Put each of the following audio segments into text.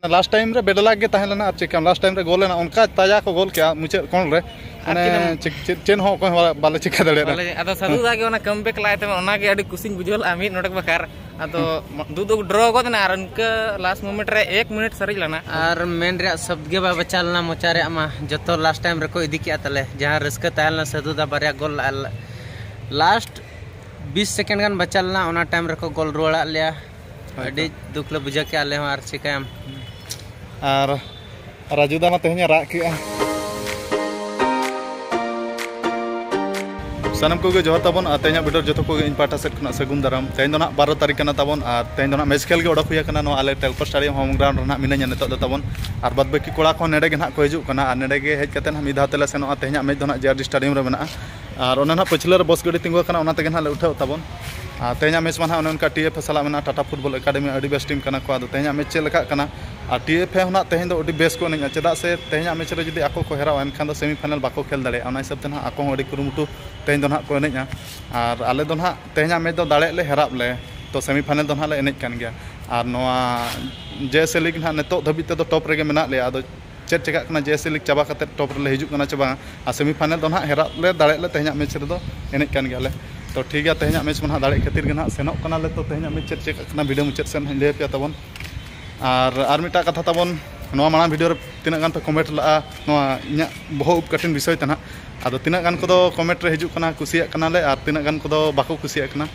last time ᱨᱮ bad luck ᱜᱮ ᱛᱟᱦᱮᱸ ᱞᱮᱱᱟ ᱟᱨ ᱪᱮᱫ ᱞᱟᱥᱴ ᱴᱟᱭᱤᱢ ᱨᱮ ᱜᱳᱞ ᱞᱮᱱᱟ ᱚᱱᱠᱟ ᱛᱟᱡᱟ ᱠᱚ ᱜᱳᱞ ᱠᱮᱜᱼᱟ ᱢᱩᱪᱟᱹᱫ ᱠᱚᱬ ᱨᱮ ᱢᱟᱱᱮ ᱪᱮᱫ ᱦᱚᱸ ᱚᱠᱚᱭ ᱦᱚᱸ ᱵᱟᱞᱮ ᱪᱤᱠᱟᱹ ᱫᱟᱲᱮᱭᱟᱫᱟ ᱟᱫᱚ ᱥᱟᱹᱫᱷᱩ ᱫᱟ ᱜᱮ ᱚᱱᱟ ᱠᱟᱢᱵᱮᱠ ᱞᱟᱭ ᱛᱮ ᱚᱱᱟ ᱜᱮ ᱟᱹᱰᱤ ᱠᱩᱥᱤᱧ ᱵᱩᱡᱷᱟᱹᱣ ᱞᱮᱜᱼᱟ ᱢᱤᱫ ᱱᱚᱰᱮ ᱵᱟᱠᱟᱨ ᱟᱫᱚ ᱫᱩ ᱫᱩ ᱰᱨᱚ ᱜᱚᱫ ᱮᱱᱟ ᱟᱨ ᱤᱱᱠᱟᱹ ᱞᱟᱥᱴ ᱢᱳᱢᱮᱱᱴ ᱨᱮ ᱮᱠ ᱢᱤᱱᱤᱴ ᱥᱟᱨᱮᱡ ᱞᱮᱱᱟ ᱟᱨ ᱢᱮᱱ ᱨᱮᱭᱟᱜ ᱥᱚᱵᱫ ᱜᱮ ᱵᱟᱭ ᱵᱟᱪᱟ ᱞᱮᱱᱟ ᱢᱚᱪᱟ ᱨᱮᱭᱟᱜ ᱢᱟ ᱡᱚᱛᱚ ᱞᱟᱥᱴ ᱴᱟᱭᱤᱢ ᱨᱮᱠᱚ ᱤᱫᱤ ᱠᱮᱜᱼᱟ ᱛᱟᱞᱮ ᱡᱟᱦᱟᱸ ᱨᱟᱹᱥᱠᱟᱹ ᱛᱟᱦᱮᱸ ᱞᱮᱱᱟ ᱥᱟᱹᱫᱷᱩ ᱫᱟ ᱵᱟᱨᱭᱟ ᱜᱳᱞ ᱞᱟᱥᱴ ᱵᱤᱥ ᱥᱮᱠᱮᱱᱰ ᱜᱟᱱ ᱵᱟᱪᱟ ᱞᱮᱱᱟ ᱚᱱᱟ ᱴᱟᱭᱤᱢ ᱨᱮᱠᱚ ᱜᱳᱞ ᱨᱩᱣᱟᱹᱲᱟᱜ ᱞᱮᱭᱟ ᱟᱹᱰᱤ ᱫᱩᱠ ᱞᱮ ᱵᱩᱡᱷᱟᱹᱣ ᱠᱮᱜᱼᱟ ᱟᱞᱮ ᱦᱚᱸ ᱟᱨ ᱪᱤᱠᱟᱹᱭᱟᱢ ᱟᱨ ᱨᱟᱡᱩ ᱫᱟ ᱢᱟ ᱛᱮᱦᱮᱧ ᱨᱟᱜ ᱠᱮᱜᱼᱟ ᱥᱟᱱᱟᱢ ᱠᱚᱜᱮ ᱡᱚᱦᱟᱨ ᱛᱟᱵᱚᱱ ᱟᱨ ᱛᱮᱦᱮᱧᱟᱜ ᱵᱷᱤᱰᱤᱭᱳ ᱡᱚᱛᱚ ᱠᱚᱜᱮ ᱤᱧ ᱯᱟᱦᱴᱟ ᱥᱮᱫ ᱠᱷᱚᱱᱟᱜ ᱥᱟᱹᱜᱩᱱ ᱫᱟᱨᱟᱢ ᱛᱮᱦᱮᱧ ᱫᱚ ᱱᱟᱦᱟᱜ ᱵᱟᱨᱚ ᱛᱟᱹᱨᱤᱠᱷ ᱠᱟᱱᱟ ᱛᱟᱵᱚᱱ ᱟᱨ ᱛᱮᱦᱮᱧ ᱫᱚ ᱱᱟᱦᱟᱜ ᱢᱮᱪ ᱠᱷᱮᱞ ᱜᱮ ᱚᱰᱚᱠ ᱦᱩᱭ ᱟᱠᱟᱱᱟ ᱱᱚᱣᱟ ᱟᱞᱮ ᱴᱮᱞᱯᱟ ᱥᱴᱟᱰᱤᱭᱟᱢ ᱦᱳᱢ ᱜᱨᱟᱣᱩᱱᱰ ᱨᱮ ᱱᱟᱦᱟᱜ ᱢᱤᱱᱟᱹᱧᱟ ᱱᱤᱛᱚᱜ ᱫᱚ ᱛᱟᱵᱚᱱ ᱟᱨ ᱵᱟᱫ ᱵᱟᱹᱠᱤ ᱠᱚᱲᱟ ᱠᱚ ᱱᱚᱰᱮ ᱜᱮ ᱱᱟᱦᱟᱜ ᱠᱚ ᱦᱤᱡᱩᱜ ᱠᱟᱱᱟ ᱟᱨ ᱱᱚᱰᱮ ᱜᱮ ᱦᱮᱡ ᱠᱟᱛᱮ ᱱᱟᱦᱟᱜ ᱢᱤᱫ ᱫᱷᱟᱣ ᱛᱮᱞᱮ ᱥᱮᱱᱚᱜᱼᱟ ᱛᱮᱦᱮᱧᱟᱜ ᱢᱮᱪ ᱫᱚ ᱱᱟᱦᱟᱜ ᱡᱮ ᱟᱨ ᱰᱤ ᱥᱴᱮᱰᱤᱭᱟᱢ ᱨᱮ ᱢᱮᱱᱟᱜᱼᱟ ᱟᱨ ᱚᱱᱮ ᱱᱟᱦᱟᱜ ᱯᱟᱹᱪᱷᱞᱟᱹ ᱨᱮ ᱵᱚᱥ ᱜᱟᱹᱰᱤ ᱛᱤᱸᱜᱩ ᱟᱠᱟᱱᱟ ᱚᱱᱟ ᱛᱮᱜᱮ ᱱᱟᱦᱟᱜ ᱞᱮ ᱩᱴᱷᱟᱹᱣ ᱛᱟᱵᱚᱱ ᱟᱨ ᱛᱮᱦᱮᱧᱟᱜ ᱢᱮᱪ ᱢᱟ ᱱᱟᱦᱟᱜ ᱚᱱᱮ ᱚᱱᱠᱟ ᱴᱤ ᱮᱯᱷ ᱮ ᱥᱟᱞᱟᱜ ᱢᱮᱱᱟᱜᱼᱟ ᱴᱟᱴᱟ ᱯᱷᱩᱴᱵᱚᱞ ᱮᱠᱟᱰᱮᱢᱤ ᱟᱹᱰᱤ ᱵᱮᱥ ᱴᱤᱢ ᱠᱟᱱᱟ ᱠᱚ ᱟᱫᱚ ᱛᱮᱦᱮᱧᱟᱜ ᱢᱮᱪ ᱪᱮᱫ ᱞᱮᱠᱟᱜ ᱠᱟᱱᱟ ᱟᱨ ᱴᱤ ᱮᱯᱷ ᱮ ᱦᱚᱸ ᱱᱟᱦᱟᱜ ᱛᱮᱦᱮᱧ ᱫᱚ ᱟᱹᱰᱤ ᱵᱮᱥ ᱠᱚ ᱮᱱᱮᱡᱼᱟ ᱪᱮᱫᱟᱜ ᱥᱮ ᱛᱮᱦᱮᱧᱟᱜ ᱢᱮᱪ ᱨᱮ ᱡᱩᱫᱤ ᱟᱠᱚ ᱠᱚ ᱦᱮᱨᱟᱣᱟ ᱮᱱᱠᱷᱟᱱ ᱫᱚ ᱥᱮᱢᱤ ᱯᱷᱟᱭᱱᱮᱞ ᱵᱟᱠᱚ ᱠᱷᱮᱞ ᱫᱟᱲᱮᱭᱟᱜᱼᱟ ᱚᱱᱟ ᱦᱤᱥᱟᱹᱵ ᱛᱮ ᱱᱟᱦᱟᱜ ᱟᱠᱚ ᱦᱚᱸ ᱟᱹᱰᱤ ᱠᱩᱨᱩᱢᱩᱴᱩ ᱛᱮᱦᱮᱧ ᱫᱚ ᱱᱟᱦᱟᱜ ᱠᱚ ᱮᱱᱮᱡᱼᱟ ᱟᱨ ᱟᱞᱮ ᱫᱚ ᱱᱟᱦᱟᱜ ᱛᱮᱦᱮᱧᱟᱜ ᱢᱮᱪ ᱫᱚ ᱫᱟᱲᱮᱜ ᱞᱮ ᱦᱮᱨᱟᱜ ᱞᱮ ᱛᱚ ᱥᱮᱢᱤ ᱯᱷᱟᱭᱱᱮᱞ ᱫᱚ ᱱᱟᱦᱟᱜ ᱞᱮ ᱮᱱᱮᱡ ᱠᱟᱱ ᱜᱮᱭᱟ ᱟᱨ ᱱᱚᱣᱟ ᱡᱮ ᱮᱥ ᱮ ᱞᱤᱜᱽ ᱱᱟᱦᱟᱜ ᱱᱤᱛᱚᱜ ᱫᱷᱟᱹᱵᱤᱡ ᱛᱮᱫᱚ ᱴᱚᱯ ᱨᱮᱜᱮ ᱢᱮᱱᱟᱜ ᱞᱮᱭᱟ ᱟᱫᱚ ᱪᱮᱫ ᱪᱮᱠᱟᱜ ᱠᱟᱱᱟ ᱡᱮ ᱮᱥᱮ ᱞᱤᱜᱽ ᱪᱟᱵᱟ ᱠᱟᱛᱮ ᱴᱚᱯ ᱨᱮᱞᱮ ᱦᱤᱡᱩᱜ ᱠᱟᱱᱟ ᱪᱮ ᱵᱟᱝ ᱟᱨ ᱥᱮᱢᱤ ᱯᱷᱟᱭᱱᱮᱞ ᱫᱚ ᱱᱟᱦᱟᱜ ᱦᱮᱨᱟᱜ ᱞᱮ ᱫᱟᱲᱮᱜ ᱞᱮ ᱛᱮᱦᱮᱧᱟᱜ ᱢᱮᱪ ᱨᱮᱫᱚ ᱮᱱᱮᱡ ᱠᱟᱱ ᱜᱮᱭᱟᱞᱮ ᱛᱚ ᱴᱷᱤᱠ ᱜᱮᱭᱟ ᱛᱮᱦᱮᱧᱟᱜ ᱢᱮᱪ ᱢᱟ ᱱᱟᱦᱟᱜ ᱫᱟᱲᱮᱜ ᱠᱷᱟᱹᱛᱤᱨ ᱜᱮ ᱱᱟᱦᱟᱜ ᱥᱮᱱᱚᱜ ᱠᱟᱱᱟᱞᱮ ᱛᱚ ᱛᱮᱦᱮᱧᱟᱜ ᱢᱮᱪ ᱪᱮᱫ ᱪᱮᱠᱟᱜ ᱠᱟᱱᱟ ᱵᱷᱤᱰᱤᱭᱳ ᱢᱩᱪᱟᱹᱫ ᱥᱮᱫ ᱱᱟᱦᱟᱜ ᱞᱟᱹᱭ ᱟᱯᱮᱭᱟ ᱛᱟᱵᱚᱱ ᱟᱨ ᱟᱨ ᱢᱤᱫᱴᱟᱝ ᱠᱟᱛᱷᱟ ᱛᱟᱵᱚᱱ ᱱᱚᱣᱟ ᱢᱟᱲᱟᱝ ᱵᱷᱤᱰᱤᱭᱳ ᱨᱮ ᱛᱤᱱᱟᱹᱜ ᱜᱟᱱ ᱯᱮ ᱠᱚᱢᱮᱱᱴ ᱞᱟᱜᱼᱟ ᱱᱚᱣᱟ ᱤᱧᱟᱹᱜ ᱵᱚᱦᱚᱜ ᱩᱵ ᱠᱟᱴᱤᱝ ᱵᱤᱥᱚᱭ ᱛᱮ ᱱᱟᱦᱟᱜ ᱟᱫᱚ ᱛᱤᱱᱟᱹᱜ ᱜᱟᱱ ᱠᱚᱫᱚ ᱠᱚᱢᱮᱱᱴ ᱨᱮ ᱦᱤᱡᱩᱜ ᱠᱟᱱᱟ ᱠᱩᱥᱤᱭᱟᱜ ᱠᱟᱱᱟᱞᱮ ᱟᱨ ᱛᱤᱱᱟᱹᱜ ᱜᱟᱱ ᱠᱚᱫᱚ ᱵᱟᱠᱚ ᱠᱩᱥᱤᱭᱟᱜ ᱠᱟᱱᱟ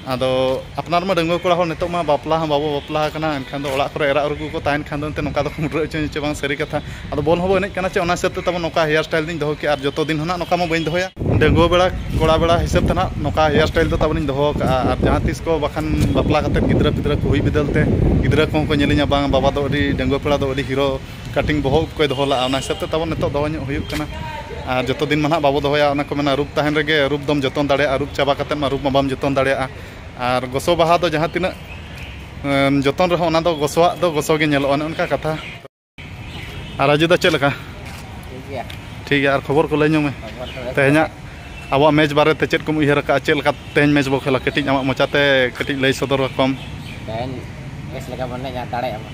ᱟᱫᱚ ᱟᱯᱱᱟᱨ ᱢᱟ ᱰᱟᱺᱜᱩᱣᱟᱹ ᱠᱚᱲᱟ ᱦᱚᱲ ᱱᱤᱛᱚᱜ ᱢᱟ ᱵᱟᱯᱞᱟ ᱦᱚᱸ ᱵᱟᱵᱚ ᱵᱟᱯᱞᱟ ᱟᱠᱟᱱᱟ ᱮᱱᱠᱷᱟᱱ ᱫᱚ ᱚᱲᱟᱜ ᱠᱚᱨᱮ ᱮᱨᱟ ᱩᱨᱩ ᱠᱚᱠᱚ ᱛᱟᱦᱮᱱ ᱠᱷᱟᱱ ᱫᱚ ᱮᱱᱛᱮᱫ ᱱᱚᱝᱠᱟ ᱫᱚᱠᱚ ᱢᱩᱰᱨᱟᱹ ᱦᱚᱪᱚᱧᱟ ᱥᱮ ᱵᱟᱝ ᱥᱟᱹᱨᱤ ᱠᱟᱛᱷᱟ ᱟᱫᱚ ᱵᱚᱞ ᱦᱚᱸᱵᱚ ᱮᱱᱮᱡ ᱠᱟᱱᱟ ᱪᱮ ᱚᱱᱟ ᱦᱤᱥᱟᱹᱵᱽ ᱛᱮ ᱛᱟᱵᱚ ᱱᱚᱝᱠᱟ ᱦᱮᱭᱟᱨ ᱥᱴᱟᱭᱤᱞ ᱫᱚᱧ ᱫᱚᱦᱚ ᱠᱮᱜᱼᱟ ᱟᱨ ᱡᱚᱛᱚ ᱫᱤᱱ ᱦᱚᱸ ᱱᱟᱜ ᱱᱚᱝᱠᱟ ᱢᱟ ᱵᱟᱹᱧ ᱫᱚᱦᱚᱭᱟ ᱰᱟᱺᱜᱩᱣᱟᱹ ᱵᱮᱲᱟ ᱠᱚᱲᱟ ᱵᱮᱲᱟ ᱦᱤᱥᱟᱹᱵᱽ ᱛᱮ ᱱᱟᱜ ᱱᱚᱝᱠᱟ ᱦᱮᱭᱟᱨ ᱥᱴᱟᱭᱤᱞ ᱫᱚ ᱛᱟᱵᱚᱱᱤᱧ ᱫᱚᱦᱚ ᱟᱠᱟᱫᱼᱟ ᱟᱨ ᱡᱟᱦᱟᱸ ᱛᱤᱥ ᱠᱚ ᱵᱟᱠᱷᱟᱱ ᱵᱟᱯᱞᱟ ᱠᱟᱛᱮᱫ ᱜᱤᱫᱽᱨᱟᱹ ᱯᱤᱫᱽᱨᱟᱹ ᱠᱚ ᱦᱩᱭ ᱵᱤᱫᱟᱹᱞ ᱛᱮ ᱜᱤᱫᱽᱨᱟᱹ ᱠᱚᱦᱚᱸ ᱠᱚ ᱧᱮᱞᱤᱧᱟ ᱵᱟᱝ ᱵᱟᱵᱟ ᱫᱚ ᱟᱹᱰᱤ ᱰᱟᱺᱜᱩᱣᱟᱹ ᱠᱚᱲᱟ ᱫᱚ ᱟᱹᱰᱤ ᱦᱤᱨᱳ ᱠᱟᱴᱤᱝ ᱵᱚᱦᱚᱜ ᱩᱵ ᱠᱚᱭ ᱫᱚᱦᱚ ᱞᱟᱜᱼᱟ ᱚᱱᱟ ᱦᱤᱥᱟᱹᱵ ᱛᱮ ᱛᱟᱵᱚ ᱱᱤᱛᱚᱜ ᱫᱚᱦᱚ ᱧᱚᱜ ᱦᱩᱭᱩᱜ ᱠᱟᱱᱟ ᱟᱨ ᱡᱚᱛᱚ ᱫᱤᱱ ᱢᱟ ᱱᱟᱦᱟᱜ ᱵᱟᱵᱚ ᱫᱚᱦᱚᱭᱟ ᱚᱱᱟ ᱠᱚ ᱢᱮᱱᱟ ᱨᱩᱯ ᱛᱟᱦᱮᱱ ᱨᱮᱜᱮ ᱨᱩᱯ ᱫᱚᱢ ᱡᱚᱛᱚᱱ ᱫᱟᱲᱮᱭᱟᱜᱼᱟ ᱨᱩᱯ ᱪᱟᱵᱟ ᱠᱟᱛᱮᱫ ᱢᱟ ᱨᱩᱯ ᱢᱟ ᱵᱟᱢ ᱡᱚᱛᱚᱱ ᱫᱟᱲᱮᱭᱟᱜᱼᱟ ᱟᱨ ᱜᱚᱥᱚ ᱵᱟᱦᱟ ᱫᱚ ᱡᱟᱦᱟᱸ ᱛᱤᱱᱟᱹᱜ ᱡᱚᱛᱚᱱ ᱨᱮᱦᱚᱸ ᱚᱱᱟ ᱫᱚ ᱜᱚᱥᱚᱣᱟᱜ ᱫᱚ ᱜᱚᱥᱚ ᱜᱮ ᱧᱮᱞᱚᱜᱼᱟ ᱚᱱᱮ ᱚᱱᱠᱟ ᱠᱟᱛᱷᱟ ᱟᱨ ᱨᱟᱡᱩ ᱫᱟ ᱪᱮᱫ ᱞᱮᱠᱟ ᱴᱷᱤᱠ ᱜᱮᱭᱟ ᱟᱨ ᱠᱷᱚᱵᱚᱨ ᱠᱚ ᱞᱟᱹᱭ ᱧᱚᱜ ᱢᱮ ᱛᱮᱦᱮᱧᱟᱜ ᱟᱵᱚᱣᱟᱜ ᱢᱮᱪ ᱵᱟᱨᱮ ᱛᱮ ᱪᱮᱫ ᱠᱚᱢ ᱩᱭᱦᱟᱹᱨ ᱟᱠᱟᱫᱼᱟ ᱪᱮᱫ ᱞᱮᱠᱟ ᱛᱮᱦᱮᱧ ᱢᱮᱪ ᱵᱚ ᱠᱷᱮᱞᱟ ᱠᱟᱹᱴᱤᱡ ᱟᱢᱟᱜ ᱢᱚᱪᱟᱛᱮ ᱠᱟᱹᱴᱤᱡ ᱞᱟᱹᱭ ᱥᱚᱫᱚᱨ ᱟᱠᱚᱢ ᱛᱮᱦᱮᱧ ᱵᱮᱥ ᱞᱮᱠᱟ ᱵᱚᱱ ᱮᱱᱮᱡᱟ ᱫᱟᱲᱮᱭᱟᱜᱼᱟ ᱵᱚᱱ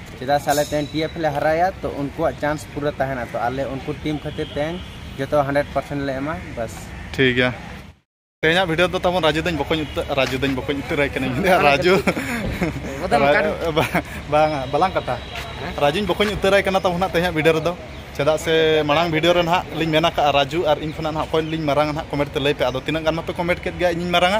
ᱪᱮᱫᱟᱜ ᱥᱮ ᱟᱞᱮ ᱛᱮᱦᱮᱧ ᱴᱤ ᱮᱯᱷ ᱞᱮ ᱦᱟᱨᱟᱭᱟ ᱛᱚ ᱩᱱᱠᱩᱣᱟᱜ ᱪᱟᱱᱥ ᱯᱩᱨᱟᱹ ᱛᱟᱦᱮᱱᱟ ᱛᱚ ᱟᱞᱮ ᱩᱱᱠᱩ ᱴᱤᱢ ᱠᱷᱟᱹᱛᱤᱨ ᱛᱮᱦᱮᱧ ᱡᱚᱛᱚ ᱦᱟᱱᱰᱨᱮᱰ ᱯᱟᱨᱥᱮᱱᱴ ᱞᱮ ᱮᱢᱟ ᱵᱟᱥ ᱴᱷᱤᱠ ᱜᱮᱭᱟ ᱛᱮᱦᱮᱧᱟᱜ ᱵᱷᱤᱰᱤᱭᱳ ᱫᱚ ᱛᱟᱵᱚᱱ ᱨᱟᱡᱩ ᱫᱟᱹᱧ ᱵᱚᱠᱚᱧ ᱩᱛᱟᱹᱨ ᱨᱟᱡᱩ ᱫᱟᱹᱧ ᱵᱚᱠᱚᱧ ᱩᱛᱟᱹᱨᱟᱭ ᱠᱟᱹᱱᱟᱹᱧ ᱨᱟᱡᱩ ᱵᱟᱝᱟ ᱵᱟᱞᱟᱝ ᱠᱟᱴᱟ ᱨᱟᱡᱩᱧ ᱵᱚᱠᱚᱧ ᱩᱛᱟᱹᱨᱟᱭ ᱠᱟᱱᱟ ᱛᱟᱵᱚᱱ ᱦᱟᱸᱜ ᱛᱮᱦᱮᱧᱟᱜ ᱵᱷᱤᱰᱤᱭᱳ ᱨᱮᱫᱚ ᱪᱮᱫᱟᱜ ᱥᱮ ᱢᱟᱲᱟᱝ ᱵᱷᱤᱰᱤᱭᱳ ᱨᱮ ᱱᱟᱦᱟᱜ ᱞᱤᱧ ᱢᱮᱱ ᱟᱠᱟᱫᱼᱟ ᱨᱟᱡᱩ ᱟᱨ ᱤᱧ ᱠᱷᱚᱱᱟᱜ ᱱᱟᱦᱟᱜ ᱚᱠᱚᱭ ᱞᱤᱧ ᱢᱟᱨᱟᱝᱟ ᱱᱟᱦᱟᱜ ᱠᱚᱢᱮᱱᱴ ᱛᱮ ᱞᱟᱹᱭ ᱯᱮ ᱟᱫᱚ ᱛᱤᱱᱟᱹᱜ ᱜᱟᱱ ᱢᱟᱯᱮ ᱠᱚᱢᱮᱱᱴ ᱠᱮᱫ ᱜᱮᱭᱟ ᱤᱧᱤᱧ ᱢᱟᱨᱟᱝᱟ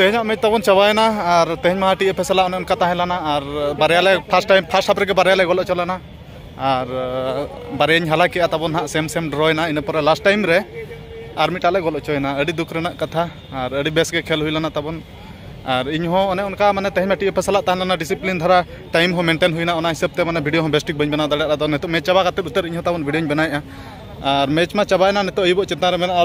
ᱛᱮᱦᱮᱧᱟᱜ ᱢᱮᱪ ᱛᱟᱵᱚᱱ ᱪᱟᱵᱟᱭᱮᱱᱟ ᱟᱨ ᱛᱮᱦᱮᱧ ᱢᱟ ᱴᱤ ᱮᱯᱷ ᱥᱟᱞᱟᱜ ᱚᱱᱮ ᱚᱱᱠᱟ ᱛᱟᱦᱮᱸ ᱞᱮᱱᱟ ᱟᱨ ᱵᱟᱨᱭᱟ ᱞᱮ ᱯᱷᱟᱥᱴ ᱴᱟᱭᱤᱢ ᱯᱷᱟᱥᱴ ᱦᱟᱯ ᱨᱮᱜᱮ ᱵᱟᱨᱭᱟ ᱞᱮ ᱜᱚᱞ ᱦᱚᱪᱚ ᱞᱮᱱᱟ ᱟᱨ ᱵᱟᱨᱭᱟᱧ ᱦᱟᱞᱟ ᱠᱮᱜᱼᱟ ᱛᱟᱵᱚᱱ ᱦᱟᱸᱜ ᱥᱮᱢ ᱥᱮᱢ ᱰᱨᱚᱭᱮᱱᱟ ᱤᱱᱟᱹ ᱯᱚᱨᱮ ᱞᱟᱥᱴ ᱴᱟᱭᱤᱢ ᱨᱮ ᱟᱨ ᱢᱤᱫᱴᱟᱜ ᱞᱮ ᱜᱚᱞ ᱦᱚᱪᱚᱭᱮᱱᱟ ᱟᱹᱰᱤ ᱫᱩᱠ ᱨᱮᱱᱟᱜ ᱠᱟᱛᱷᱟ ᱟᱨ ᱟᱹᱰᱤ ᱵᱮᱥ ᱜᱮ ᱠᱷᱮᱞ ᱦᱩᱭ ᱞᱮᱱᱟ ᱛᱟᱵᱚᱱ ᱟᱨ ᱤᱧ ᱦᱚᱸ ᱚᱱᱮ ᱚᱱᱠᱟ ᱢᱟᱱᱮ ᱛᱮᱦᱮᱧ ᱢᱟ ᱴᱤ ᱮᱯᱷ ᱥᱟᱞᱟᱜ ᱛᱟᱦᱮᱸ ᱞᱮᱱᱟ ᱰᱤᱥᱤᱯᱞᱤᱱ ᱫᱷᱟᱨᱟ ᱴᱟᱭᱤᱢ ᱦᱚᱸ ᱢᱮᱱᱴᱮᱱ ᱦᱩᱭᱱᱟ ᱚᱱᱟ ᱦᱤᱥᱟᱹᱵ ᱛᱮ ᱢᱟᱱᱮ ᱵᱷᱤᱰᱤᱭᱳ ᱦᱚᱸ ᱵᱮᱥ ᱴᱷᱤᱠ ᱵᱟᱹᱧ ᱵᱮᱱᱟᱣ ᱫᱟᱲᱮᱭᱟᱜᱼᱟ ᱟᱫᱚ ᱱᱤᱛᱚᱜ ᱢᱮᱪ ᱪᱟᱵᱟ ᱠᱟᱛᱮ ᱩᱛᱟᱹᱨ ᱤᱧ ᱦᱚᱸ ᱛᱟᱵᱚᱱ ᱵᱷᱤᱰᱤᱭᱳᱧ ᱵᱮᱱᱟᱣᱮᱜᱼᱟ ᱟᱨ ᱢᱮᱪ ᱢᱟ ᱪᱟᱵᱟᱭᱮᱱᱟ ᱱᱤᱛᱚᱜ ᱟᱹᱭᱩᱵᱚᱜ ᱪᱮᱛᱟᱱ ᱨᱮ ᱢᱮᱱᱟᱜᱼᱟ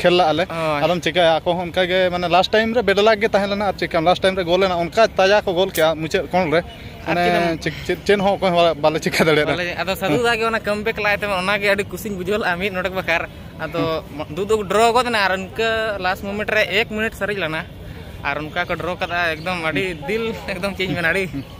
ᱠᱷᱮᱞ ᱞᱟᱜ ᱟᱞᱮ ᱟᱫᱚᱢ ᱪᱤᱠᱟᱹᱭᱟ ᱟᱠᱚ ᱦᱚᱸ ᱚᱱᱠᱟ ᱜᱮ ᱢᱟᱱᱮ ᱞᱟᱥᱴ ᱴᱟᱭᱤᱢ ᱨᱮ ᱵᱮᱰᱞᱟᱠ ᱜᱮ ᱛᱟᱦᱮᱸ ᱞᱮᱱᱟ ᱟᱨ ᱪᱤᱠᱟᱹᱭᱟᱢ ᱞᱟᱥᱴ ᱴᱟᱭᱤᱢ ᱨᱮ ᱜᱳᱞ ᱮᱱᱟ ᱚᱱᱠᱟ ᱛᱟᱡᱟ ᱠᱚ ᱜᱳᱞ ᱠᱮᱜᱼᱟ ᱢᱩᱪᱟᱹᱫ ᱠᱚᱬ ᱨᱮ ᱢᱟᱱᱮ ᱪᱮᱫ ᱦᱚᱸ ᱚᱠᱚᱭ ᱦᱚᱸ ᱵᱟᱞᱮ ᱪᱤᱠᱟᱹ ᱫᱟᱲᱮᱭᱟᱫᱟ ᱟᱫᱚ ᱥᱟᱹᱫᱷᱩ ᱫᱟ ᱜᱮ ᱚᱱᱟ ᱠᱟᱢᱵᱮᱠ ᱞᱟᱭ ᱛᱟᱢᱟ ᱚᱱᱟ ᱜᱮ ᱟᱹᱰᱤ ᱠᱩᱥᱤᱧ ᱵᱩᱡᱷᱟᱹᱣ ᱞᱮᱜᱼᱟ ᱢᱤᱫ ᱱᱚᱰᱮ ᱵᱟᱠᱷᱟᱨ ᱟᱫᱚ ᱫᱩ ᱫᱩ ᱰᱨᱚ ᱜᱚᱫ ᱮᱱᱟ ᱟᱨ ᱩᱱᱠᱟᱹ ᱞᱟᱥᱴ ᱢᱳᱢᱮᱱᱴ ᱨᱮ ᱮᱠ ᱢᱤᱱᱤᱴ ᱥᱟᱨᱮᱡ ᱞᱮᱱᱟ ᱟᱨ ᱚᱱᱠᱟ ᱠᱚ ᱰᱨᱚ ᱠᱟᱫᱟ ᱮᱠᱫᱚᱢ ᱟᱹᱰᱤ ᱫᱤᱞ ᱮᱠᱫᱚᱢ ᱪᱮᱫ ᱤᱧ ᱢᱮᱱᱟ ᱟᱹᱰᱤ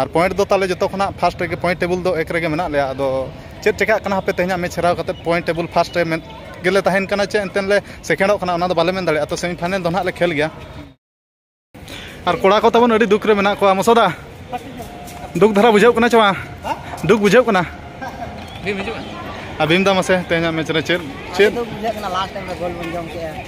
ᱟᱨ ᱯᱚᱭᱮᱱᱴ ᱫᱚ ᱛᱟᱦᱚᱞᱮ ᱡᱚᱛᱚ ᱠᱷᱚᱱᱟᱜ ᱯᱷᱟᱥᱴ ᱨᱮᱜᱮ ᱯᱚᱭᱮᱱᱴ ᱴᱮᱵᱩᱞ ᱫᱚ ᱮᱠ ᱨᱮᱜᱮ ᱢᱮᱱᱟᱜ ᱞᱮᱭᱟ ᱟᱫᱚ ᱪᱮᱫ ᱪᱮᱠᱟᱜ ᱠᱟᱱᱟ ᱦᱟᱯᱮ ᱛᱮᱦᱮᱧᱟᱜ ᱢᱮᱪ ᱦᱟᱨᱟᱣ ᱠᱟᱛᱮ ᱯᱚᱭᱮᱱᱴ ᱴᱮᱵᱩᱞ ᱯᱷᱟᱥᱴ ᱨᱮ ᱢᱮᱱ ᱜᱮᱞᱮ ᱛᱟᱦᱮᱱ ᱠᱟᱱᱟ ᱪᱮ ᱮᱱᱛᱮ ᱞᱮ ᱥᱮᱠᱮᱱᱰᱚᱜ ᱠᱟᱱᱟ ᱚᱱᱟ ᱫᱚ ᱵᱟᱞᱮ ᱢᱮᱱ ᱫᱟᱲᱮᱭᱟᱜᱼᱟ ᱛᱚ ᱥᱮᱢᱤ ᱯᱷᱟᱭᱱᱮᱞ ᱫᱚ ᱱᱟᱦᱟᱜ ᱞᱮ ᱠᱷᱮᱞ ᱜᱮᱭᱟ ᱟᱨ ᱠᱚᱲᱟ ᱠᱚ ᱛᱟᱵᱚᱱ ᱟᱹᱰᱤ ᱫᱩᱠ ᱨᱮ ᱢᱮᱱᱟᱜ ᱠᱚᱣᱟ ᱢᱚᱥᱚᱫᱟ ᱫᱩᱠ ᱫᱷᱟᱨᱟ ᱵᱩᱡᱷᱟᱹᱜ ᱠᱟᱱᱟ ᱪᱮ ᱵᱟᱝ ᱫᱩᱠ ᱵᱩᱡᱷᱟᱹᱜ ᱠᱟᱱᱟ ᱟᱨ ᱵᱷᱤᱢ ᱫᱟ ᱢᱟᱥᱮ ᱛᱮᱦᱮᱧᱟᱜ ᱢᱮᱪ ᱨᱮ ᱪᱮᱫ ᱪᱮᱫ ᱵᱩᱡᱷᱟᱹᱜ ᱠᱟᱱᱟ ᱞᱟᱥᱴ ᱴᱟᱭᱤᱢ ᱨᱮ ᱜᱳᱞ ᱵᱚᱱ ᱡᱚᱢ ᱠᱮᱜᱼᱟ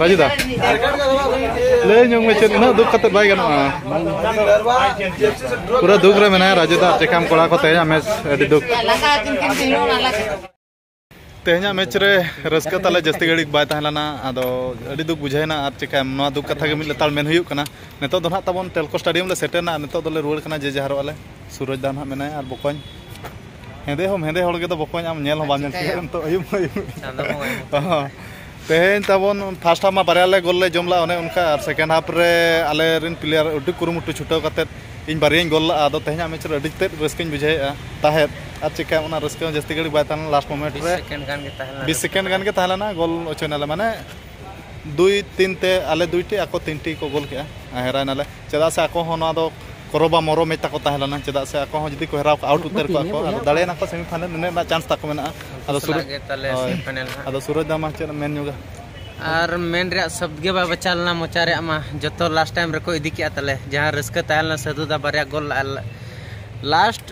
ᱵᱟᱡᱩ ᱫᱟ ᱞᱟᱹᱭ ᱧᱚᱜ ᱢᱮ ᱪᱮᱫ ᱩᱱᱟᱹᱜ ᱫᱩᱠ ᱠᱟᱛᱮ ᱵᱟᱭ ᱜᱟᱱᱚᱜᱼᱟ ᱯᱩᱨᱟᱹ ᱫᱩᱠ ᱨᱮ ᱢᱮᱱᱟᱭᱟ ᱨᱟᱡᱩ ᱫᱟ ᱪᱮᱠᱟᱢ ᱠᱚᱲᱟ ᱠᱚ ᱛᱮᱦᱮᱧᱟᱜ ᱢᱮᱪ ᱟᱹᱰᱤ ᱫᱩᱠ ᱛᱮᱦᱮᱧᱟᱜ ᱢᱮᱪ ᱨᱮ ᱨᱟᱹᱥᱠᱟᱹ ᱛᱟᱞᱮ ᱡᱟᱹᱥᱛᱤ ᱜᱷᱟᱹᱲᱤᱡ ᱵᱟᱭ ᱛᱟᱦᱮᱸ ᱞᱮᱱᱟ ᱟᱫᱚ ᱟᱹᱰᱤ ᱫᱩᱠ ᱵᱩᱡᱷᱟᱹᱣᱮᱱᱟ ᱟᱨ ᱪᱮᱠᱟᱭᱟᱢ ᱱᱚᱣᱟ ᱫᱩᱠ ᱠᱟᱛᱷᱟ ᱜᱮ ᱢᱤᱫ ᱞᱮᱛᱟᱲ ᱢᱮᱱ ᱦᱩᱭᱩᱜ ᱠᱟᱱᱟ ᱱᱤᱛᱚᱜ ᱫᱚ ᱱᱟᱦᱟᱜ ᱛᱟᱵᱚᱱ ᱴᱮᱞᱠᱳ ᱥᱴᱮᱰᱤᱭᱟᱢ ᱞᱮ ᱥᱮᱴᱮᱨᱱᱟ ᱱᱤᱛᱚᱜ ᱫᱚᱞᱮ ᱨᱩᱣᱟᱹᱲ ᱠᱟᱱᱟ ᱡᱮ ᱡᱟᱦᱟᱨᱚᱜ ᱟᱞᱮ ᱥᱩᱨᱚᱡᱽ ᱫᱟ ᱱᱟᱦᱟᱜ ᱢᱮᱱᱟᱭᱟ ᱟᱨ ᱵᱚᱠᱚᱧ ᱦᱮᱸᱫᱮ ᱦᱚᱸ ᱦᱮᱸᱫᱮ ᱦᱚᱲ ᱜᱮᱫᱚ ᱵᱚᱠᱚᱧ ᱟᱢ ᱧᱮᱞ ᱦᱚᱸ ᱵᱟᱢ ᱧᱮᱞ ᱠᱮᱫᱟ ᱱᱤᱛᱚᱜ ᱟᱹᱭᱩᱵ ᱟᱹᱭᱩᱵ ᱛᱮᱦᱮᱧ ᱛᱟᱵᱚᱱ ᱯᱷᱟᱥᱴ ᱦᱟᱯ ᱢᱟ ᱵᱟᱨᱭᱟ ᱞᱮ ᱜᱳᱞ ᱞᱮ ᱡᱚᱢ ᱞᱟᱜᱼᱟ ᱚᱱᱮ ᱚᱱᱠᱟ ᱟᱨ ᱥᱮᱠᱮᱱᱰ ᱦᱟᱯ ᱨᱮ ᱟᱞᱮ ᱨᱮᱱ ᱯᱞᱮᱭᱟᱨ ᱟᱹᱰᱤ ᱠᱩᱨᱩᱢᱩᱴᱩ ᱪᱷᱩᱴᱟᱹᱣ ᱠᱟᱛᱮᱫ ᱤᱧ ᱵᱟᱨᱭᱟᱧ ᱜᱳᱞ ᱞᱟᱜᱼᱟ ᱟᱫᱚ ᱛᱮᱦᱮᱧᱟᱜ ᱢᱮᱪ ᱨᱮ ᱟᱹᱰᱤ ᱛᱮᱫ ᱨᱟᱹᱥᱠᱟᱹᱧ ᱵᱩᱡᱷᱟᱹᱣᱮᱫᱼᱟ ᱛᱟᱦᱮᱸᱫ ᱟᱨ ᱪᱤᱠᱟᱹ ᱚᱱᱟ ᱨᱟᱹᱥᱠᱟᱹ ᱦᱚᱸ ᱡᱟᱹᱥᱛᱤ ᱜᱷᱟᱹᱲᱤᱡ ᱵᱟᱭ ᱛᱟᱦᱮᱸ ᱞᱮᱱᱟ ᱞᱟᱥᱴ ᱢᱳᱢᱮᱱᱴ ᱨᱮ ᱵᱤᱥ ᱥᱮᱠᱮᱱᱰ ᱜᱟᱱ ᱜᱮ ᱛᱟᱦᱮᱸ ᱞᱮᱱᱟ ᱜᱳᱞ ᱚᱪᱚᱭᱮᱱᱟᱞᱮ ᱢᱟᱱᱮ ᱫᱩᱭ ᱛᱤᱱ ᱛᱮ ᱟᱞᱮ ᱫᱩᱭ ᱴᱤ ᱟᱠᱚ ᱛᱤᱱ ᱴᱤ ᱠᱚ ᱜᱳᱞ ᱠᱮᱜᱼᱟ ᱟᱨ ᱦᱮᱨᱟᱣ ᱮᱱᱟᱞᱮ ᱪᱮᱫᱟᱜ ᱥᱮ ᱟᱠᱚ ᱦᱚᱸ ᱱᱚᱣᱟ ᱫᱚ ᱠᱚᱨᱚ ᱵᱟ ᱢᱚᱨᱚ ᱢᱮᱪ ᱛᱟᱠᱚ ᱛᱟᱦᱮᱸ ᱞᱮᱱᱟ ᱪᱮᱫᱟᱜ ᱥᱮ ᱟᱠᱚ ᱦᱚᱸ ᱡᱩᱫᱤ ᱠᱚ ᱦᱮᱨᱟᱣ ᱠᱚᱜᱼᱟ ᱟᱣᱩᱴ ᱩᱛᱟᱹᱨ ᱠᱚᱜᱼᱟ ᱠᱚ ᱟᱫᱚ ᱫᱟᱲᱮᱭ ᱱᱟᱠᱚ ᱥᱮᱢᱤ ᱯᱷᱟᱭᱱᱮᱞ ᱱᱤᱱᱟᱹᱜ ᱨᱮᱱᱟᱜ ᱪᱟᱱᱥ ᱛᱟᱠᱚ ᱢᱮᱱᱟᱜᱼᱟ ᱟᱫᱚ ᱥᱩᱨᱚᱡᱽ ᱟᱫᱚ ᱥᱩᱨᱚᱡᱽ ᱫᱟ ᱢᱟ ᱪᱮᱫ ᱮᱢ ᱢᱮᱱ ᱧᱚᱜᱟ ᱟᱨ ᱢᱮᱱ ᱨᱮᱭᱟᱜ ᱥᱚᱵᱫ ᱜᱮ ᱵᱟᱭ ᱵᱟᱪᱟ ᱞᱮᱱᱟ ᱢᱚᱪᱟ ᱨᱮᱭᱟᱜ ᱢᱟ ᱡᱚᱛᱚ ᱞᱟᱥᱴ ᱴᱟᱭᱤᱢ ᱨᱮᱠᱚ ᱤᱫᱤ ᱠᱮᱜᱼᱟ ᱛᱟᱞᱮ ᱡᱟᱦᱟᱸ ᱨᱟᱹᱥᱠᱟᱹ ᱛᱟᱦᱮᱸ ᱞᱮᱱᱟ ᱥᱟᱹᱫᱷᱩ ᱫᱟ ᱵᱟᱨᱭᱟ ᱜᱳᱞ ᱞᱟᱥᱴ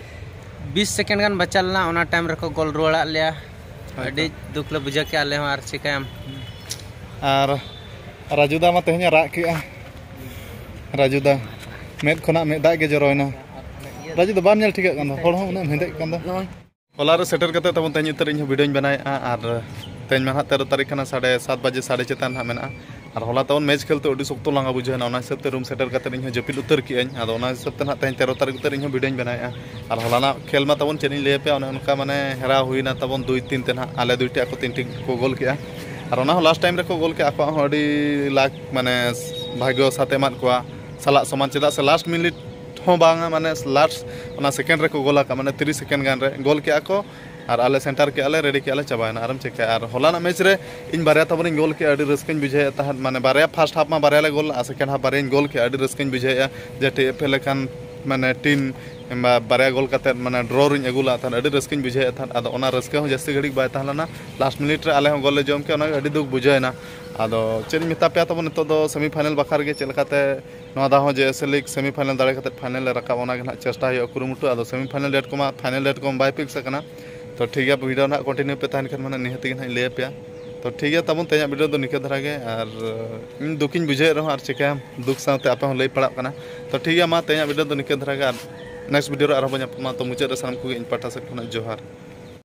ᱵᱤᱥ ᱥᱮᱠᱮᱱᱰ ᱜᱟᱱ ᱵᱟᱪᱟ ᱞᱮᱱᱟ ᱚᱱᱟ ᱴᱟᱭᱤᱢ ᱨᱮᱠᱚ ᱜᱳᱞ ᱨᱩᱣᱟᱹᱲᱟᱜ ᱞᱮᱭᱟ ᱟᱹᱰᱤ ᱫᱩᱠ ᱞᱮ ᱵᱩᱡᱷᱟᱹᱣ ᱠᱮᱜᱼᱟ ᱟᱞᱮ ᱦᱚᱸ ᱟᱨ ᱪᱤᱠᱟᱹᱭᱟᱢ ᱟᱨ ᱨᱟᱡᱩ ᱫᱟ ᱢᱟ ᱛᱮᱦᱮᱧ ᱨᱟᱜ ᱠᱮᱜᱼᱟ ᱨᱟᱡᱩ ᱫᱟ ᱢᱮᱫ ᱠᱷᱚᱱᱟᱜ ᱢᱮᱫ ᱫᱟᱜ ᱜᱮ ᱡᱚᱨᱚᱭᱮᱱᱟ ᱨᱟᱡᱩ ᱫᱚ ᱵᱟᱢ ᱧᱮᱞ ᱴᱷᱤᱠᱟᱹᱜ ᱠᱟᱱ ᱫᱚ ᱦᱚᱲ ᱦᱚᱸ ᱩᱱᱟᱹᱜ ᱦᱮᱸᱫᱮᱜ ᱠᱟᱱ ᱫᱚ ᱦᱚᱞᱟ ᱨᱮ ᱥᱮᱴᱮᱨ ᱠᱟᱛᱮ ᱛᱟᱵᱚᱱ ᱛᱮᱦᱮᱧ ᱩᱛᱟᱹᱨ ᱤᱧ ᱦᱚᱸ ᱵᱷᱤᱰᱤᱭᱳᱧ ᱵᱮᱱᱟᱣᱮᱜᱼᱟ ᱟᱨ ᱛᱮᱦᱮᱧ ᱢᱟ ᱦᱟᱸᱜ ᱛᱮᱨᱚ ᱛᱟᱹᱨᱤᱠᱷ ᱠᱟᱱᱟ ᱥᱟᱲᱮ ᱥᱟᱛ ᱵᱟᱡᱮ ᱥᱟᱲᱮ ᱪᱮᱛᱟᱱ ᱦᱟᱸᱜ ᱢᱮᱱᱟᱜᱼᱟ ᱟᱨ ᱦᱚᱞᱟ ᱛᱟᱵᱚᱱ ᱢᱮᱪ ᱠᱷᱮᱞᱛᱮ ᱟᱹᱰᱤ ᱥᱚᱠᱛᱚ ᱞᱟᱸᱜᱟ ᱵᱩᱡᱷᱟᱹᱣᱱᱟ ᱚᱱᱟ ᱦᱤᱥᱟᱹᱵ ᱛᱮ ᱨᱩᱢ ᱥᱮᱴᱮᱨ ᱠᱟᱛᱮ ᱤᱧ ᱦᱚᱸ ᱡᱟᱹᱯᱤᱫ ᱩᱛᱟᱹᱨ ᱠᱮᱜᱼᱟᱹᱧ ᱟᱫᱚ ᱚᱱᱟ ᱦᱤᱥᱟᱹᱵ ᱛᱮ ᱱᱟᱜ ᱛᱮᱦᱮᱧ ᱛᱮᱨᱚ ᱛᱟᱹᱨᱤᱠᱷ ᱩᱛᱟᱹᱨ ᱤᱧ ᱦᱚᱸ ᱵᱷᱤᱰᱤᱭᱳᱧ ᱵᱮᱱᱟᱣᱮᱜᱼᱟ ᱟᱨ ᱦᱚᱞᱟᱱᱟᱜ ᱠᱷᱮᱞ ᱢᱟ ᱛᱟᱵᱚᱱ ᱪᱮᱫ ᱤᱧ ᱞᱟᱹᱭ ᱟᱯᱮᱭᱟ ᱚᱱᱮ ᱚᱱᱠᱟ ᱢᱟᱱᱮ ᱦᱮᱨᱟᱣ ᱦᱩᱭᱱᱟ ᱛᱟᱵᱚᱱ ᱫᱩᱭ ᱛᱤᱱ ᱛᱮ ᱱᱟᱜ ᱟᱞᱮ ᱫᱩᱭᱴᱤ ᱟᱠᱚ ᱛᱤᱱᱴᱤ ᱠᱚ ᱜᱳᱞ ᱠᱮᱜᱼᱟ ᱟᱨ ᱚᱱᱟ ᱦᱚᱸ ᱞᱟᱥᱴ ᱴᱟᱭᱤᱢ ᱨᱮᱠᱚ ᱜᱳᱞ ᱠᱮᱜᱼᱟ ᱟᱠᱚᱣᱟᱜ ᱦᱚᱸ ᱟᱹᱰᱤ ᱞᱟᱠ ᱢᱟᱱᱮ ᱵᱷᱟᱜᱽᱭᱚ ᱥᱟᱛᱮ ᱮᱢᱟᱫ ᱠᱚᱣᱟ ᱥᱟᱞᱟᱜ ᱥᱚᱢᱟᱱ ᱪᱮᱫᱟᱜ ᱥᱮ ᱞᱟᱥᱴ ᱢᱤᱱᱤᱴ ᱦᱚᱸ ᱵᱟᱝᱟ ᱢᱟᱱᱮ ᱞᱟᱥᱴ ᱚᱱᱟ ᱥᱮᱠᱮᱱᱰ ᱨᱮᱠᱚ ᱜᱳᱞ ᱟᱠᱟᱫ ᱢᱟᱱᱮ ᱛᱤᱨᱤᱥ ᱥᱮᱠᱮᱱᱰ ᱜᱟᱱ ᱨᱮ ᱜᱳᱞ ᱠᱮᱜᱼᱟ ᱠᱚ ᱟᱨ ᱟᱞᱮ ᱥᱮᱴᱟᱨ ᱠᱮᱫ ᱟᱞᱮ ᱨᱮᱰᱤ ᱠᱮᱫ ᱟᱞᱮ ᱪᱟᱵᱟᱭᱮᱱᱟ ᱟᱨᱮᱢ ᱪᱤᱠᱟᱹᱭᱟ ᱟᱨ ᱦᱚᱞᱟᱱᱟᱜ ᱢᱮᱪ ᱨᱮ ᱤᱧ ᱵᱟᱨᱭᱟ ᱛᱟᱵᱚᱱ ᱤᱧ ᱜᱳᱞ ᱠᱮᱫᱼᱟ ᱟᱹᱰᱤ ᱨᱟᱹᱥᱠᱟᱹᱧ ᱵᱩᱡᱷᱟᱹᱣᱮᱫ ᱛᱟᱦᱮᱸᱫ ᱢᱟᱱᱮ ᱵᱟᱨᱭᱟ ᱯᱷᱟᱥᱴ ᱦᱟᱯᱷ ᱢᱟ ᱵᱟᱨᱭᱟ ᱞᱮ ᱜᱳᱞ ᱞᱮᱫᱼᱟ ᱥᱮᱠᱮᱱᱰ ᱦᱟᱯᱷ ᱵᱟᱨᱭᱟᱧ ᱜᱳᱞ ᱠᱮᱫᱼᱟ ᱟᱹᱰᱤ ᱨᱟᱹᱥᱠᱟᱹᱧ ᱵᱩᱡᱷᱟᱹᱣᱮᱫᱼᱟ ᱡᱮ ᱴᱤ ᱮᱯᱷ ᱮ ᱞᱮᱠᱟᱱ ᱢᱟᱱᱮ ᱴᱤᱢ ᱠᱤᱢᱵᱟ ᱵᱟᱨᱭᱟ ᱜᱳᱞ ᱠᱟᱛᱮᱫ ᱢᱟᱱᱮ ᱰᱨᱚ ᱨᱤᱧ ᱟᱹᱜᱩ ᱞᱮᱫ ᱛᱟᱦᱮᱸᱫ ᱟᱹᱰᱤ ᱨᱟᱹᱥᱠᱟᱹᱧ ᱵᱩᱡᱷᱟᱹᱣᱮᱫ ᱛᱟᱦᱮᱸᱫ ᱟᱫᱚ ᱚᱱᱟ ᱨᱟᱹᱥᱠᱟᱹ ᱦᱚᱸ ᱡᱟᱹᱥᱛᱤ ᱜᱷᱟᱹᱲᱤᱡ ᱵᱟᱭ ᱛᱟᱦᱮᱸ ᱞᱮᱱᱟ ᱞᱟᱥᱴ ᱢᱤᱱᱤᱴ ᱨᱮ ᱟᱞᱮ ᱦᱚᱸ ᱜᱳᱞ ᱞᱮ ᱡᱚᱢ ᱠᱮᱫᱼᱟ ᱚᱱᱟᱜᱮ ᱟᱹᱰᱤ ᱫᱩᱠ ᱵᱩᱡᱷᱟᱹᱣᱮᱱᱟ ᱟᱫᱚ ᱪᱮᱫ ᱤᱧ ᱢᱮᱛᱟ ᱯᱮᱭᱟ ᱛᱟᱵᱚᱱ ᱱᱤᱛᱚᱜ ᱫᱚ ᱥᱮᱢᱤ ᱯᱷᱟᱭᱱᱮᱞ ᱵᱟᱠᱷᱨᱟ ᱨᱮᱜᱮ ᱪᱮᱫ ᱞᱮᱠᱟᱛᱮ ᱱᱚᱣᱟ ᱫᱷᱟᱣ ᱦᱚᱸ J S L league semi final ᱫᱟᱲᱮ ᱠᱟᱛᱮ ᱯᱷᱟᱭᱱᱮᱞ ᱞᱮ ᱨᱟᱠᱟᱵ ᱚᱱᱟ ᱜᱮ ᱱᱟᱦᱟᱜ ᱪᱮᱥᱴᱟ ᱦᱩᱭᱩᱜᱼᱟ ᱠᱩᱨᱩᱢᱩᱴᱩ ᱟᱫᱚ ᱥᱮᱢᱤ ᱯᱷᱟᱭᱱᱮᱞ ᱰᱮᱴ ᱠᱚᱢᱟ ᱯᱷᱟᱭᱱᱮᱞ ᱰᱮᱴ ᱠᱚᱢᱟ ᱵᱟᱭ ᱯᱷᱤᱠᱥ ᱟᱠᱟᱱᱟ ᱛᱚ ᱴᱷᱤᱠ ᱜᱮᱭᱟ ᱵᱷᱤᱰᱤᱭᱳ ᱱᱟᱦᱟᱜ ᱠᱚᱱᱴᱤᱱᱤᱭᱩ ᱯᱮ ᱛᱟᱦᱮᱱ ᱠᱷᱟᱱ ᱢᱟᱱᱮ ᱱᱤᱦᱟᱹᱛ ᱜᱮ ᱱᱟᱦᱟᱜ ᱤᱧ ᱞᱟᱹᱭ ᱟᱯᱮᱭᱟ ᱛᱚ ᱴᱷᱤᱠ ᱜᱮᱭᱟ ᱛᱟᱵᱚᱱ ᱛᱮᱦᱮᱧᱟᱜ ᱵᱷᱤᱰᱤᱭᱳ ᱫᱚ ᱱᱤᱠᱟᱹ ᱫᱷᱟᱨᱟ ᱜᱮ ᱟᱨ ᱤᱧ ᱫᱩᱠᱤᱧ ᱵᱩᱡᱷᱟᱹᱣᱮᱫ ᱨᱮᱦᱚᱸ ᱟᱨ ᱪᱤᱠᱟᱹᱭᱟᱢ ᱫᱩᱠ ᱥᱟᱶᱛᱮ ᱟᱯᱮ ᱦᱚᱸ ᱞᱟᱹᱭ ᱯᱟᱲᱟᱜ ᱠᱟᱱᱟ ᱛᱚ ᱴᱷᱤᱠ ᱜᱮᱭᱟ ᱢᱟ ᱛᱮᱦᱮᱧᱟᱜ ᱵᱷᱤᱰᱤᱭᱳ ᱫᱚ ᱱᱤᱠᱟᱹ ᱫᱷᱟᱨᱟ ᱜᱮ ᱟᱨ ᱱᱮᱠᱥᱴ ᱵᱷᱤᱰᱤᱭᱳ ᱨᱮ ᱟᱨᱦᱚᱸ ᱵᱚᱱ ᱧᱟᱯᱟᱢᱟ ᱛᱚ ᱢᱩᱪᱟᱹᱫ ᱨᱮ ᱥᱟᱱᱟᱢ ᱠᱚᱜᱮ ᱤᱧ ᱯᱟᱦᱴᱟ ᱥᱮᱫ ᱠᱷᱚᱱᱟᱜ ᱡᱚᱦᱟᱨ